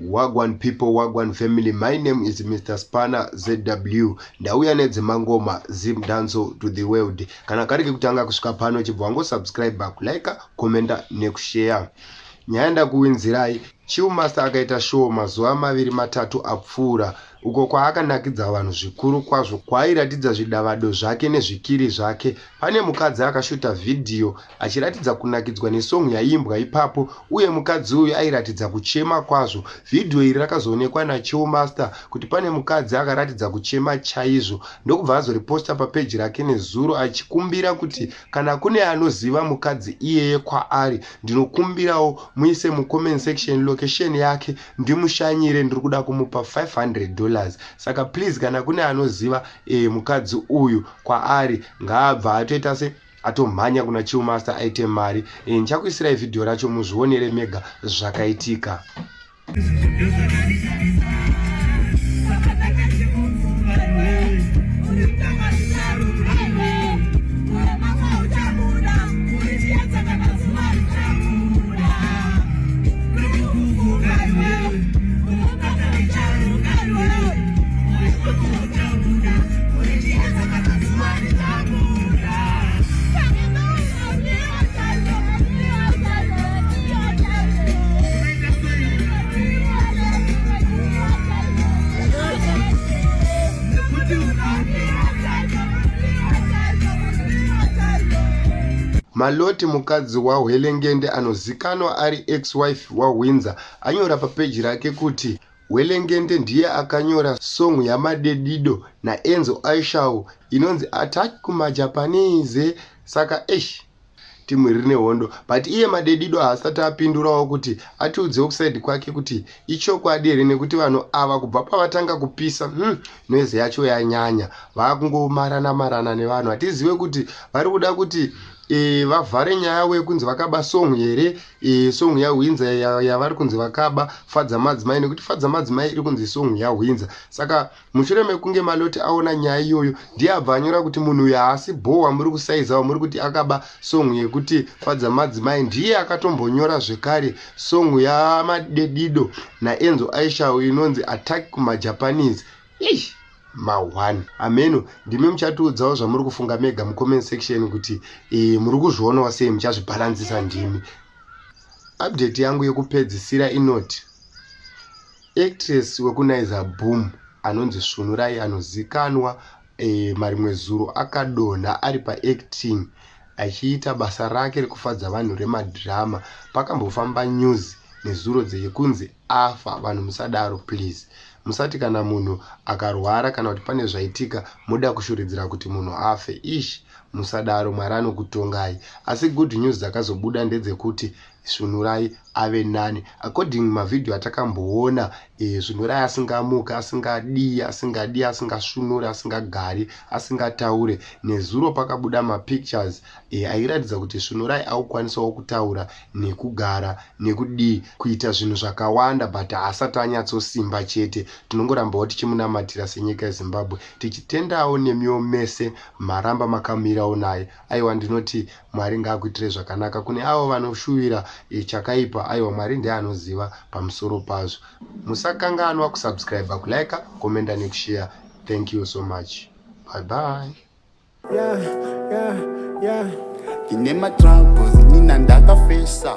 Wagwan people wagwan family my name is Mr Spanner ZW ndauya nedzemangoma Zim Danso to the world kana kari kekutanga kusvika pano chibva wango subscribe kulike commenta nekushare nyaya ndakuwinzirai Chiu Master akaita show mazuva maviri matatu apfuura uko kwaakanakidza vanhu zvikuru kwazvo kwaairatidza zvidavado zvake nezvikiri zvake pane mukadzi akashuta vhidhiyo achiratidza kunakidzwa nesong yaiimbwa ipapo uye mukadzi uyu airatidza kuchema kwazvo. Vhidhiyo iri rakazoonekwa naChillmaster kuti pane mukadzi akaratidza kuchema chaizvo ndokubva azoriposta papeji rake nezuro achikumbira kuti kana kune anoziva mukadzi iyeye kwaari ndinokumbirawo muise mucomment section location yake ndimushanyire ndiri kuda kumupa 500 dollars saka please kana kune anoziva e, mukadzi uyu kwaari ngaabva atoita se atomhanya kuna chill master aite mari e, ndichakuisirai vhidhiyo racho muzvionere mega zvakaitika Maloti mukadzi waHwelengende anozikanwa ari ex-wife waHwinza anyora papeji rake kuti Hwelengende ndiye akanyora song yaMadedido naEnzo Aishawo inonzi Attack kumaJapanese saka eish team iri rine hondo but iye Madedido haasati apindurawo kuti atiudzewo kuside kwake kuti ichokwadi here nekuti vanhu ava kubva pavatanga kupisa hmm, noise yacho yanyanya vakungomarana marana nevanhu hatizive kuti vari kuda kuti e, vavhare nyaya wekunzi vakaba song here e, song yahwinza yavari kunzi vakaba fadza madzimai nekuti fadza madzimai iri kunzi song yahwinza saka mushure mekunge maloti aona nyaya iyoyo ndiye abva anyora kuti munhu uyu haasi bho wamuri kusaiza wamuri kuti akaba song yekuti fadza madzimai ndiye akatombonyora zvekare song yamadedido naenzo aishawo inonzi attack kumajapanese Eish ma one hameno ndimi muchatiudzawo zvamuri kufunga mega mucomment section kuti e, muri kuzvionawo sei muchazvibhalansisa ndimi update yangu yekupedzisira inoti actress wekunaiza boom anonzi svunurai anozikanwa e, marimwe zuro akadonha ari paacting achiita basa rake rekufadza vanhu remadhirama pakambofamba news nezuro dzeyekunzi afa vanhu musadaro please musati kana munhu akarwara kana kuti pane zvaitika moda kushuridzira kuti munhu afe ish musadaro mwari anokutongai asi good news dzakazobuda ndedzekuti svunurai ave nani according mavhidhiyo atakamboona e, svunurai asingamuke asingadii asingadii asingasvunuri asingagari asingataure nezuro pakabuda mapictures e, airatidza kuti svunurai akukwanisawo kutaura nekugara nekudii kuita zvinhu zvakawanda but haasati anyatsosimba chete tinongorambawo tichimunamatira senyika yezimbabwe tichitendawo nemiwo mese maramba makamirawo naye aiwa ndinoti mwari ngaakuitirei zvakanaka kune avo vanoshuvira e, chakaipa aiwa mwari ndiye anoziva pamusoro pazvo musakanganwa kusubscribe kulike komenda nekusheya thank you so much bye bye Yeah, yeah, yeah. Ndine matroubles, nina ndakafesa.